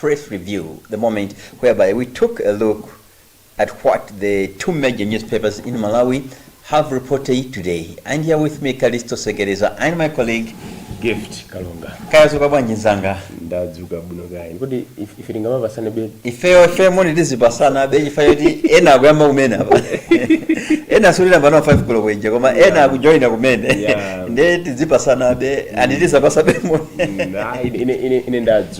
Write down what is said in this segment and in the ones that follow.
Press Review, The Moment, whereby we took a look at what the two major newspapers in Malawi have reported today. And here with me, Kalisto Segereza and my colleague, gift kalonga Kaya wadzuka bwanji nzanga. ndadzuka bwino kaya kodi if- ife tingamapasanabe ifeyo ifeyo moni tizipasanabe ifeyo poti ena akuyamba kumene apa ena atsegulira pano 5 koloko ija koma ena Yeah. akujoina kumene Yeah. nde tizipasanabe and tiziwapasabe moni Mm, ah, ine- ine ine- ine ndadzuka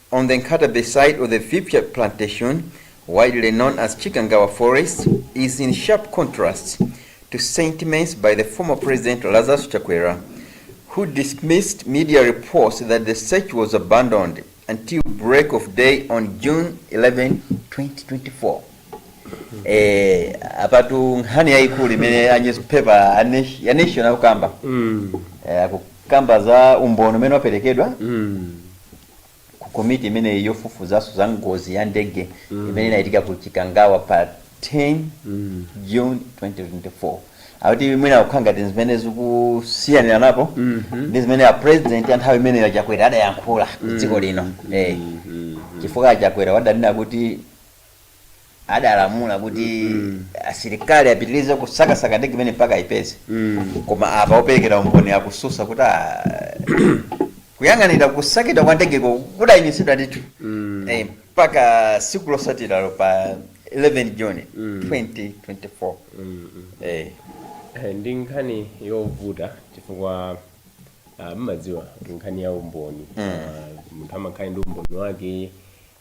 On the Nkhatabay side of the Viphya plantation, widely known as Chikangawa forest, is in sharp contrast to sentiments by the former president Lazarus Chakwera, who dismissed media reports that the search was abandoned until break of day on June 11, 2024. Eh, apatu nkhani yayikulu imene a newspaper a Nation- ya nation akukamba eh, akukamba za umboni umene waperekedwa ku komiti imeneyi yofufuzanso za ngozi ya ndege mm. imene inachitika ku chikangawa pa 10 mm. june 2024 akuti mwina zikukhala ngati zimene zikusiyaniranapo mm -hmm. ndi zimene a president anthawi imeneyo a chakwera adayankhula ku dziko mm. lino mm -hmm. eh, mm-hmm. chifukwa a chakwera adanena kuti adalamula kuti asilikali apitirize kusakasaka ndege imeneyi mpaka ayipeze koma apa operekera umboni akususa kuti ah, kuyang'anira kusakidwa kwa ndegeko kudayimitsidwa ndithu Eh, mpaka siku lotsatiralo pa 11 june 2024 Eh, Eh, ndi nkhani yovuta chifukwa ah, mmadziwa kuti nkhani ya umboni Ah, munthu amakhala ndi umboni wake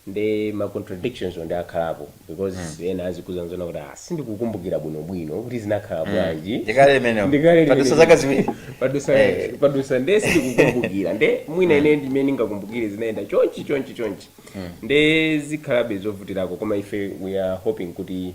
nde ma contradictions wo nde akhalapo because ena azikuuzani zoona kuti ah sindikukumbukira bwino bwino kuti zinakhala bwanji Ndikale limenelo. Ndikale limenelo. Padusa zaka ziwiri. Padusa- Eh. padusa nde sindikukumbukira nde mwina ine ndimene ndingakumbukire zinayenda chonchi chonchi chonchi nde zikhalabe zovutirako koma ife we are hoping kuti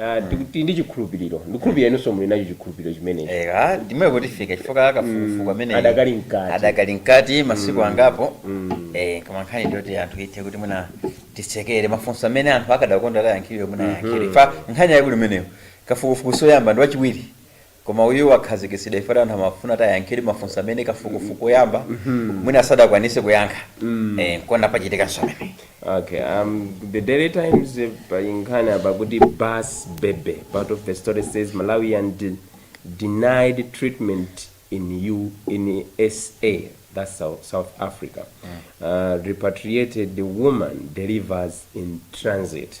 Ah, tiku- tili ndi chikhulupiriro ndikhulupirira inunso muli nacho chikhulupiriro chimenecho Eya, ndi momwe kuti tifika chifukwa kafukufuku ameneyu Adakali mkati. adakali mkati masiku angapo eh koma nkhani ndiyoti anthu ithe kuti mwina tidikire mafunso amene anthu akadakonda atayankhidwa mwina ayankhidwe chifukwa nkhani yake ili imeneyo kafukufuku woyamba ndi wachiwiri Koma uyu wakhazikitsidwa chifukwa anthu amafuna kuti ayankhidwe mafunso amene kafukufuku woyamba mwina sadakwanise kuyankha eh nkona pachitikanso pamenepa. Okay, um, the Daily Times eh, pali nkhani apa kuti Bus Baby, part of the story says Malawian denied treatment in U in SA, that's South, South Africa. Uh, repatriated woman delivers in transit.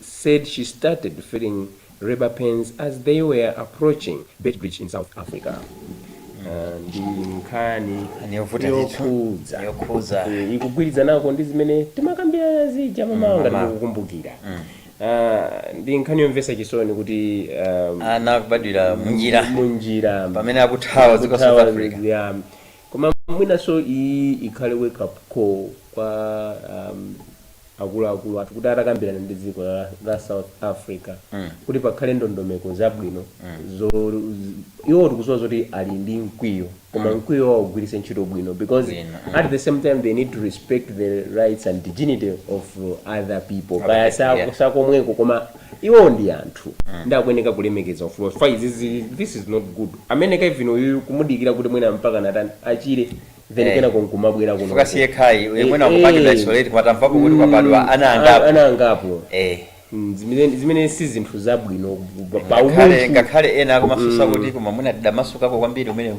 said she started feeling labor pains as they were approaching Beitbridge in South Africa. Uh, ndi nkhani Niyovuta ndithu. yokhudza Yokhudza. Eh, ikugwirizanako ndi zimene timakambirana zija mamawa ngati mamawa. mukukumbukira Ah, ndi nkhani yomvetsa chisoni kuti um, ana akubadwira munjira munjira pamene akuthawa dziko la south africa ya Koma mwinanso iyi ikhale wake up call kwa um, akuluakulu athu kuti atakambirana ndi dziko la, la south africa mm. kuti pakhale ndondomeko zabwino mm. zo, z- iwo tikudziwa zoti ali ndi mkwiyo koma mm. mkwiyo wawo ugwiritse ntchito bwino because Bwino, mm. at the same time they need to respect the rights and dignity of uh, other people kaya yeah. si akomweko koma Iwowo ndi anthu nde akuyeneka kulemekeza ufulu wa chifukwa izi zili this is not good amene kaya uyuyu kumudikira kuti mwina mpakana atani achire then Eh. kenako nkumabwera kuno Chifukwa si yekhayi, uyu mwina akupangidwa isolate, koma tamvapo kuti kwabadwa ana angapo. ana angapo Eh. Mm, zimene zimene si zinthu zabwino pa- pa ngakhale umunthu ngakhale ena akumafunsa kuti koma mwina adamasukako kwambiri umenewu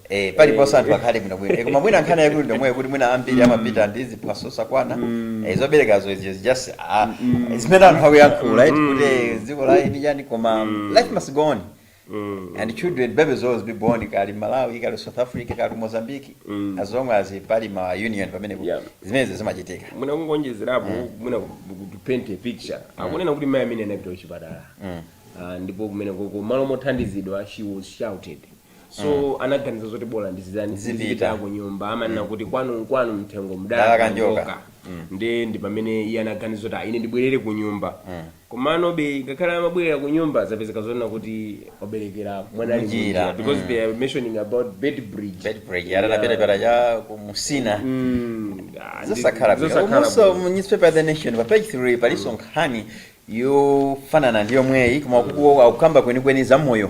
Eh, paliponse anthu akhale bwinobwino Eh, koma mwina nkhani yaikulu ndomweyo kuti mwina ambiri amapita ndi ziphaso zosakwana Eh, zoberekazo izi is just ah, zimene anthu akuyankhula right kuti eh, dziko la eni chani koma life must go on and children babies always be born kali malawi kali south africa kali mozambique as long as pali ma union pamene Yeah. zimenezi zimachitika mwina kungonjezerapo mwina ku paint a picture akunena kuti mai amene anapita kuchipatala Ah, ndipo kumene koko malo mothandizidwa she was shouted so anaganiza zoti bola ndizitani Ndizipita. ndizipita ku nyumba amanena kuti kwanu nkwanu mthengo Mdalaka mdalaka njoka. njoka ndi ndi pamene iye anaganiza kuti "Ah, ine ndibwerere ku nyumba komanobe ngakhale amabwerera ku nyumba zapezeka zonena kuti waberekera mwana ali Mnjira, mnjira because mm. they are mentioning about Beitbridge Beitbridge yatataperepera cha ku Musina Mm, ah, ndi- zosakhala bwino zosakhala komanso bwino. mu newspaper the nation pa page 3 palinso nkhani yofanana ndi yomweyi koma kuku akukamba kwenikweni za moyo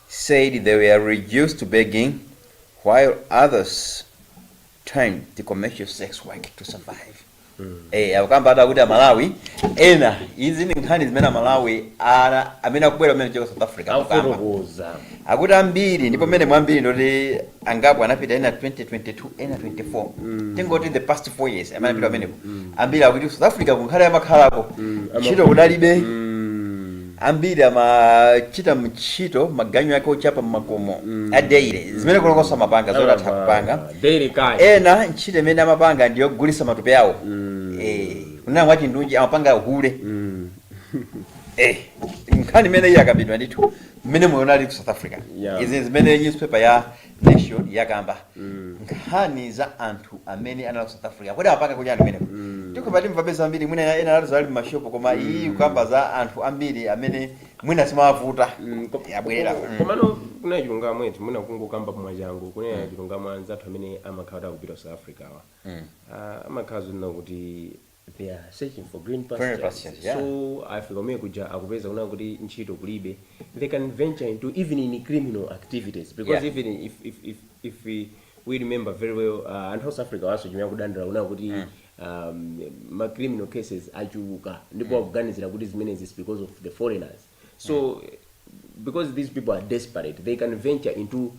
Returnees said they were reduced to begging while others turned to commercial sex work to survive. Eh, akukamba ati akuti amalawi ena izi ndi nkhani zimene amalawi ena amene akubwera kumene kuchoka south africa akukamba. akufotokoza akuti ambiri ndipo mmene mwambiri ndoti angapo anapita ena 2022 ena 24 tingoti the past 4 years amene anapita pamenepo ambiri akuti south africa kungakhale amakhalako ntchito kudalibe ambiri amachita ntchito maganyu ake ochapa mmakomo a daily zimene kulongosola amapanga zoti atha kupanga daily cash ena ntchito imene amapanga ndi yogulisa matupi awo Eh, kunena mwachindunji amapanga uhule Eh, nkhani imeneyi yakambidwa ndithu mmene moyo unali ku south africa Yeah. izi zimene newspaper ya Nation yakamba nkhani za anthu amene anali ku South Africa. Kodi amapanga kuja anthu kumeneko? Tikupatirani be zambiri mwina ena anati zali m'mashopu koma iyi ikukamba za anthu ambiri amene mwina zimawavuta Mm, ko- yabwerera. ko- Mm. komano kunena chilungamo eti mwina kungokamba mwachangu kunena chilungamo anzathu amene amakhala kuti akupita ku south africa awa Ah, amakhala zonena kuti they are searching for green Green pastures pastures, yeah. so afika kumene kuja akupeza kunena kuti ntchito kulibe they can venture into even in criminal activities because Yeah. even if, if, if, if we, we remember very well uh, anthu aku south africa nawonso chimene akudandaula kunena kuti um, ma criminal cases achuluka ndipo akuganizira kuti zimenezi is because of the foreigners so because these people are desperate they can venture into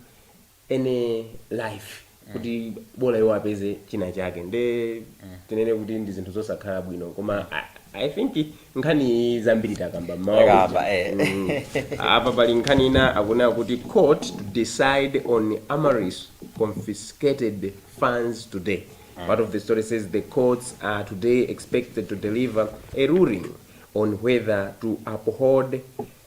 any life kuti bola iwo apeze china chake nde tinene kuti ndi zinthu zosakhala bwino koma I- i think nkhani iyi zambiri takamba mmawa Takamba, uja. eh. Mm. apa pali nkhani ina akunena kuti court to decide on amaryllis confiscated funds today part of the story says the courts are today expected to deliver a ruling on whether to uphold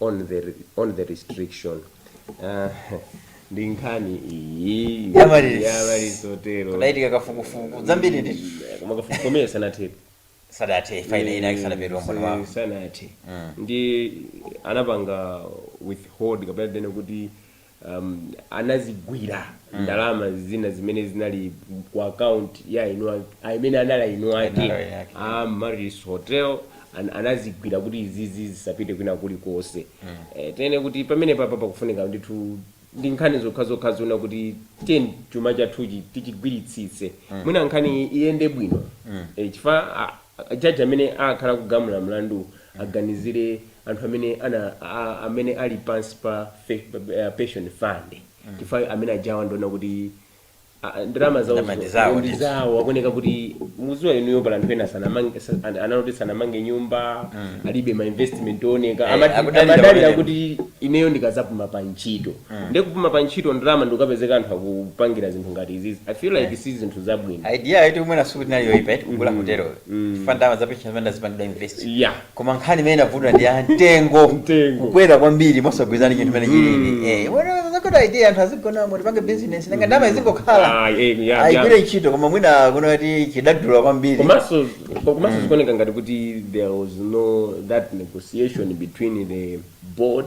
on the, on the restriction Ah, ndi nkhani iyi Ya amaryllis. ya amaryllis hotelo kudachitika kafukufuku zambiri ndi koma kafukufuku omwe sanathe sadathe faina ina yake sadapereke umboni wawo sanathe ndi anapanga withhold kapena tene kuti um, anazigwira mm. ndalama zina zimene zinali ku account ya iwo amene anali eni ake a Amaryllis Hotel an, anazigwira kuti izizi zisapite kwina kulikonse mm. eh, tene kuti pamene papa pakufunika ndithu ndi nkhani zokhazokha zonena kuti tene chuma chathuchi tichigwiritsitse mm. mwina nkhani iyende bwino mm. eh, chifa A judge amene akhala akugamula mlandu aganizire anthu amene ana a amene ali pansi pa fe, uh, pension fund chifukwa amene ajawa ndiona kuti a- a- ndalama zawo Ndalama ndi zawo, ndi ndithu. zawo akuoneka kuti mukudziwa inuyo pali anthu ena sanamange sa- an- anali kuti sanamange nyumba alibe ma investment ooneka Eh, Amati- akudalira amadalira pamene- kuti ineyo ndikazapuma pa ntchito mm. nde kupuma pa ntchito ndalama ndikukapezeka anthu akupangira zinthu ngati izizi i feel like eh. si zinthu zabwino idea yoti mwina sikuti inali yoipa yoti kugula mm. hotelo mm. chifa ndalama za pension zimene zipangidwa invest yeah. koma nkhani imene inavuta ndi ya mtengo kukwera kwambiri mosagwirizana chinthu mmene chilili mm. eh, zakuti idea anthu azigonamo tipange business nanga ndalama izingokhala ah, eh, ayi igwire ntchito koma mwina kunena kuti chidadula kwambiri komanso komanso zikuoneka ngati kuti there was no that negotiation between the board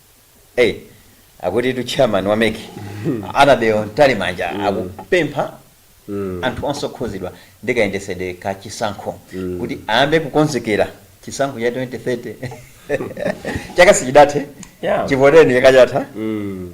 Hey, akutitu chairman wa mec annabel mtalimanja akupempha anthu onse okhuzidwa ndi kayendetsedwe ka chisankho kuti ayambe kukonzekera chisankho cha 2030 chaka sichidathe Yeah. chivoteni chaka chatha Mm.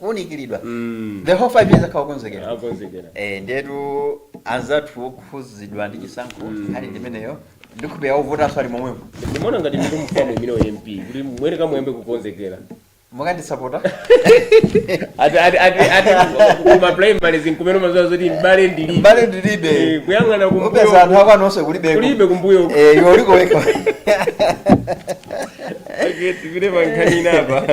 kuunikiridwa mm. the whole five years akhala okonzekera akonzekera eh ndiyetu anzathu okhuzidwa ndi chisankho mm. nkhani ndimeneyo ndikupereka uvutanso ali momwemo ndimaona ngati ndiri mufamu imene wa mp kuti mwene kamuyambe kukonzekera mukandisapota ati ati ati ati kuma primary ndi kumene umadziwa zoti mbale ndilibe mbale ndilibe Eh, kuyang'ana kumbuyo upeza anthu ako anonse kulibeko kulibe kumbuyo eh iwe uliko wekha Okay, tipite pa nkhani inapo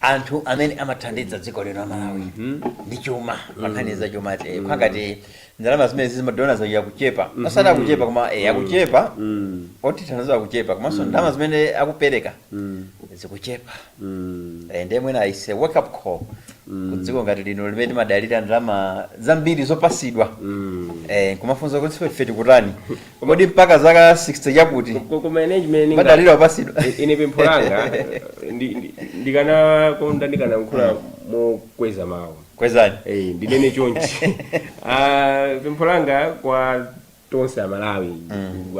anthu amene amathandiza dziko lino amalawi ndi chuma pankhani za chuma ati mm. kuli ngati ndalama zimene za madona zawo akuchepa osati akuchepa koma eh, akuchepa otithandiza akuchepa komanso ndalama zimene akupereka zikuchepa Eh, ndiye mwina isi wake up call ku dziko ngati lino limene timadalira ndalama zambiri zopasidwa Eh, kumafunza kuti ife tikutani Kodi mpaka zaka 60 zakuti? Ko- koma ine chimene ndinga- Kumadalira opasidwa. I- ine pempho langa ndi- ndi- ndikanakonda ndikanayankhula mokweza mawu Kwezani. Eh, ndinene chonchi Ah, pempho langa kwa tonse amalawi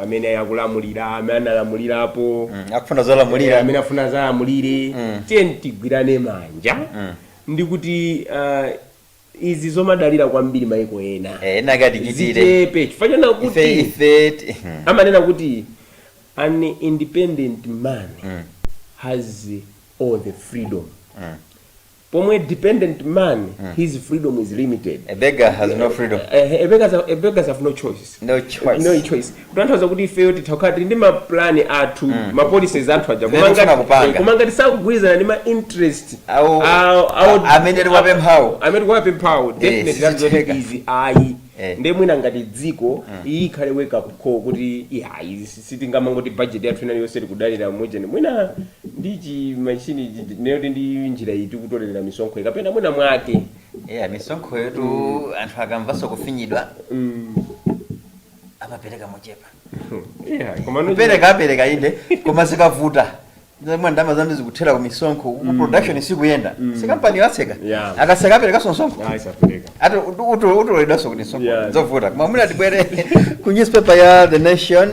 amene akulamulira amene analamulirapo Mm, Akufuna Eh, zolamulira. amene afuna zalamulire tiyeni tigwirane manja ndikuti ah, izi zomadalira kwambiri maiko ena Eh, ena akatichitire. zichepe chifukwa choona ife kuti ife ti- amanena kuti an independent man has all the freedom pomwe dependent man his freedom is limited a beggar has no freedom Eh, a beggars have- a beggars have no choice no no choice choice kutanthauza kuti ifeyo titha kukhala tili ndi mapulani athu ma policies athu aja Zimene Koma ngati- tikufuna kupanga. eh, koma ngati sakugwirizana ndi ma interest Awo- awo- awo- a- amene tikuwapemphawo. amene tikuwapemphawo definitely that's not sizitheka. easy ayi Eh. ndiye mwina ngati dziko iyi ikhale wake up call kuti iyayi sitingamangoti budget yathu ina iliyonse tikudalira m'modzi mwina ndi chimashini ndiye oti ndi njira iyi tikutolera misonkho iyi kapena mwina mwake Yeah, misonkhoyotu mm. anthu akamvanso kufinyidwa mm. amapereka mochepa yeah, kupereka apereka inde koma zikavuta mwa ndalama zambiri zikuthera ku misonkho ku mm. production sikuyenda mm. si kampani yatseka yeah. akatseka aperekanso msonkho ati utoledwanso kuti msonkho zovuta koma mwina tibwere ku newspaper ya the nation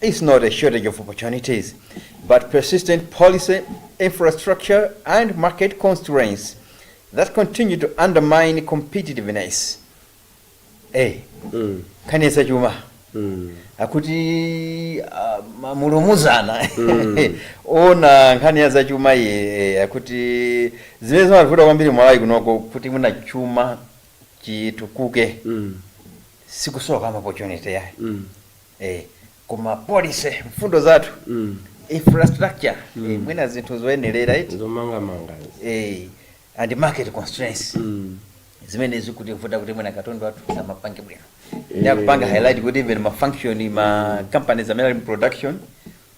It's not a shortage of opportunities, but persistent policy, infrastructure, and market constraints that continue to undermine competitiveness. Eh, nkhani ya zachuma akuti ah, ma- mulumuzana ona nkhani ya zachuma iyi eh, akuti zimene zimavuta kwambiri Malawi kunoko kuti mwina chuma chitukuke sikusowa ma opportunity yayi eh, koma policy mfundo zathu Mm. infrastructure Mm. eh, mwina zinthu zoyenerera eti zomangamanga eh, and market constraints Mm. zimene zikutivuta kuti mwina katundu wathu asamapange bwino Eh. nde akupanga highlight kuti even ma function ma companies amene ali mu production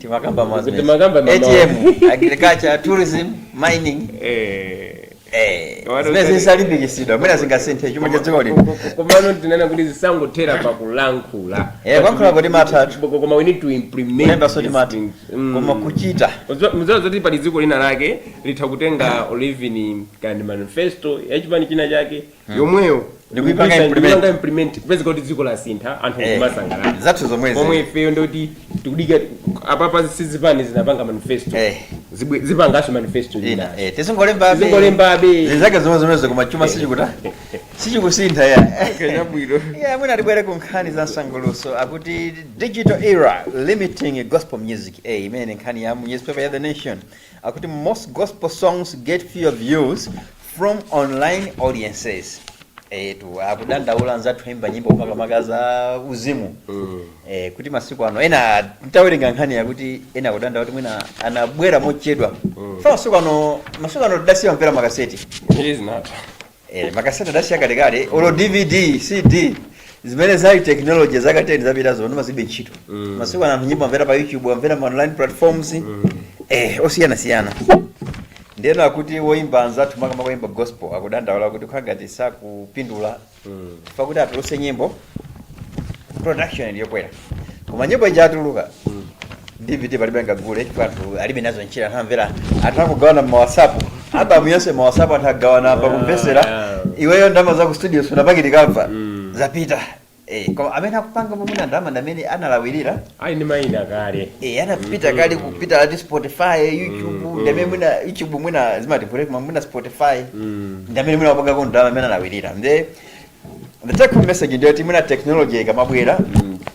timakamba Kuti mazimezi. timakamba mamawa. atm agriculture tourism mining Eh. eh, Kawada zimene zitali- zitalimbikitsidwa mwina zingasinthe chuma cha dziko lino komano tikunena kuti zisangothera pakulankhula Eh, kulankhula kuti matha athu. Koma- koma we need to implement kulemba zoti these mati things. Mm. koma kuchita mudziwa zoti pali dziko lina lake litha kutenga olo even kaya ndi manifesto yachipani china chake yomweyo Ndikuipanga ndikuipanga- implement. ndikuipanga implement kupezeka kuti dziko lasintha anthu Eh, kumasangalala zathu zomwezi. pomwe ifeyo ndoti tikudikira apapaso zipani zinapanga manifesto Eh. Zibwe- zipanganso manifesto ina ina eh, tizingolembabe. Tizingolembabe. zizake zomwe zomwezo koma chuma sichikuta sichikusintha ya chabwino ya mwina tibwere ku nkhani za msangulutso akuti digital era limiting gospel music eh, imene nkhani ya mu newspaper ya the nation akuti most gospel songs get fewer views from online audiences eti akudandaula anzathu oyimba nyimbo makamaka za uzimu eh, kuti masiku ano ena nditawerenga nkhani yakuti ena akudandaula kuti mwina anabwera mochedwa fa masiku ano masiku ano tidasiya kumvera makaseti izinata eh, makaseti adasiya kalekale olo dvd cd zimene zali technology zaka 10 zapitazo ndi zimene zilibe ntchito Mm. masiku ano anthu nyimbo akumvera pa youtube akumvera ma online platforms eh, osiyanasiyana Ndeno akuti oyimba anzathu makamaka oyimba gospel akudandaula kuti kukhala ngati sakupindula chifukwa kuti atulutse nyimbo production ndi yokwera koma nyimbo ija yatuluka dvd palibe angagule chifukwa anthu alibe nazo ntchito anthu akumvera anthu akugawana mu whatsapp album yonse mu whatsapp anthu agawana akumvetsera Yeah. iweyo ndama za ku studio sunapakiti kamva zapita Eh, koma amene akupanga mwina ndalama ndi amene analawirira ali ndi mayina kale Eh, anapita kale kupita eti spotify youtube ndi amene mwina youtube mwina zimati break koma mwina spotify ndi amene mwina akupangako ndalama amene analawirira nde the take home message ndi yoti mwina technology ikamabwera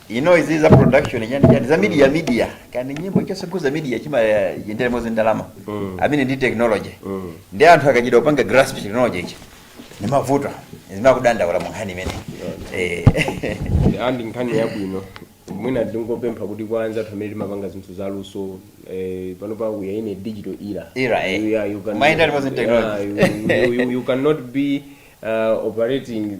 you know izi za production yani yani za media media kaya ndi nyimbo chonse chokhudza media chimayendera limodzi ndalama Mm. amene ndi technology Mm. ndi anthu akachedwa kupanga grasp technology ichi ndi mavuto zimene akudandaula mu nkhani imene Eh, and ndi nkhani yabwino mwina ndingopempha kuti kwa anzathu amene timapanga zinthu za luso eh, panopa we are in a digital era Era, eh. You- yeah, you can- Mind that wasn't technology. Yeah, you, you, you, you cannot be uh, operating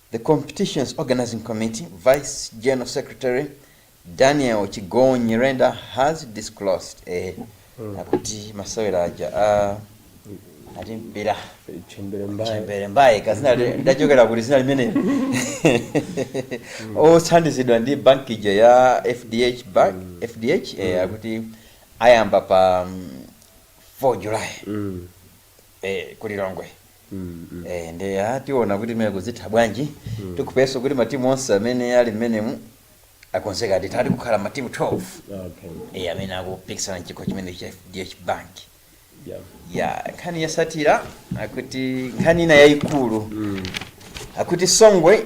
The Competitions Organizing Committee Vice General Secretary Daniel Chigona Nyirenda has disclosed eh, akuti masewera aja a timpira chembere mbaya chembere mbaye kazina lidachokera kuti zina limeneli othandizidwa ndi banki ija ya fdh bank fdh eh, akuti ayamba pa mm, 4 july Mm. eh, ku lilongwe Mm, mm. eh, nde ah, tiona kuti mmene kuzitha bwanji mm. tikupesa kuti matimu onse amene ali mmenemu akonzeka ati pati pakhala matimu 12 Okay. eh, amene akupikisana mchikho chimenechi cha fdh bank Yeah. ya nkhani yotsatira akuti nkhani ina yayikulu Mm. akuti songwe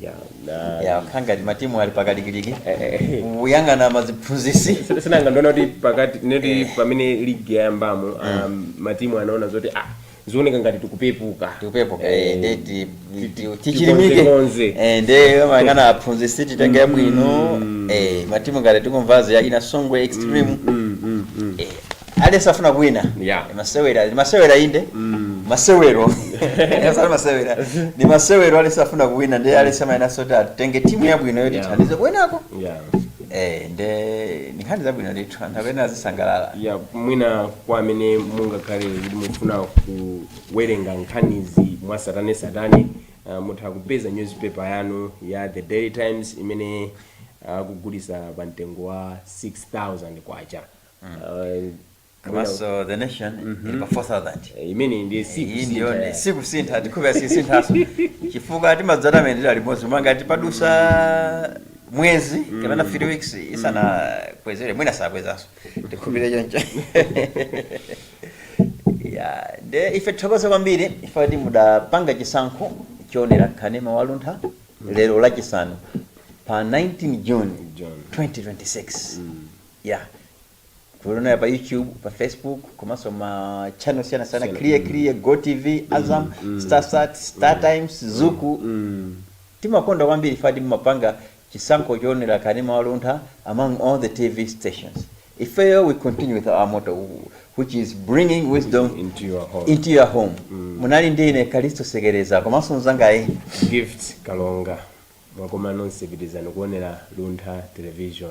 ya na ya kukhala ngati matimu ali pakalikiliki Eh. kuyang'ana aziphunzitsi Sina- sinanga ndaona kuti pakati neti pamene ligi yayambamo um, matimu anaona zoti ah zioneka ngati tikupepuka tikupepuka Eh, nde ti- ti- ti- ti- tichilimike tikonzekonze. Eh, nde ayang'ana aphunzitsi titenge abwino eh, matimu ngati tikumvazi ya kina songwe extreme mm, mm, mm. eh, aliyense afuna kuwina Yeah. Ndi masewera ndi masewera inde masewero Osati masewera ndi masewero aliyense afuna kuwina nde aliyense amayenetsetsa kuti atenge timu yabwino yoti Yeah. ithandize kuwinako yeah. Eh, nde ndi nkhani zabwino ndithu anthu ena azisangalala ya mwina kwa amene mungakhale kuti mufuna kuwerenga nkhanizi mwa satane satane uh, mutha kupeza newspaper yanu ya the daily times imene akugulitsa pa mtengo wa 6000 kwacha Uh, komanso the nation ili pa 4000 eh, imene ndiye si iyi ndiyo kusintha. ndi sikusintha ndikhulupirira sisinthaso chifukwa timadzana amene tili limodzi koma ngati padutsa mwezi kapena 3 weeks isanakwezere mwina sakwezanso ndikhulupirira choncho ya nde ife tithokoze kwambiri ife kuti mudapanga chisankho choonera kanema wa luntha lero lachisanu pa 19 june June. 2026 ya kuonera pa youtube pa facebook komanso ma channel siyana sana Siyana, kili mm. kiliye go tv azam Mm, mm. starsat star times zuku Mm. timakonda kwambiri ife kuti mumapanga chisankho choonera kanema wa luntha among all the tv stations ifeyo we continue with our motto which is bringing wisdom Into your home. into your home munali ndi ine kalisto sekereza komanso mzangayu gift kalonga mwakoma nonse pitirizani kuonera luntha television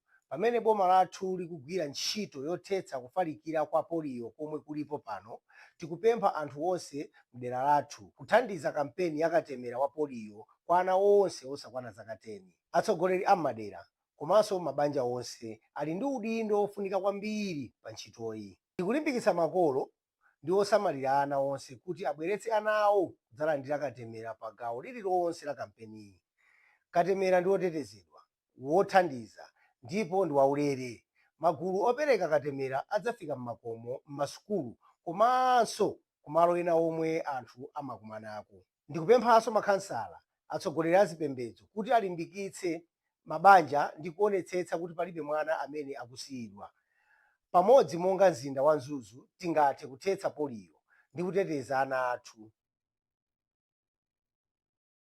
pamene boma lathu likugwira ntchito yothetsa kufalikira kwa poliyo komwe kulipo pano, tikupempha anthu onse mdera lathu kuthandiza kampeni ya katemera wa poliyo kwa ana onse osakwana zaka 10. Atsogoleri a m'madera komanso mabanja onse ali ndi udindo wofunika kwambiri pa ntchitoyi. Tikulimbikitsa makolo ndi osamalira ana onse kuti abweretse ana awo kudzalandira katemera pa gawo lililonse la kampeniyi. Katemera ndi wotetezedwa. wothandiza ndipo ndi waulere. Magulu opereka katemera adzafika m'makomo, m'masukulu komanso kumalo ena omwe anthu amakumanako. Ndikupemphanso makhansala, atsogoleri azipembedzo kuti alimbikitse mabanja ndi kuonetsetsa kuti palibe mwana amene akusiyidwa. Pamodzi monga mzinda wa Mzuzu tingathe kuthetsa poliyo ndi kuteteza ana athu.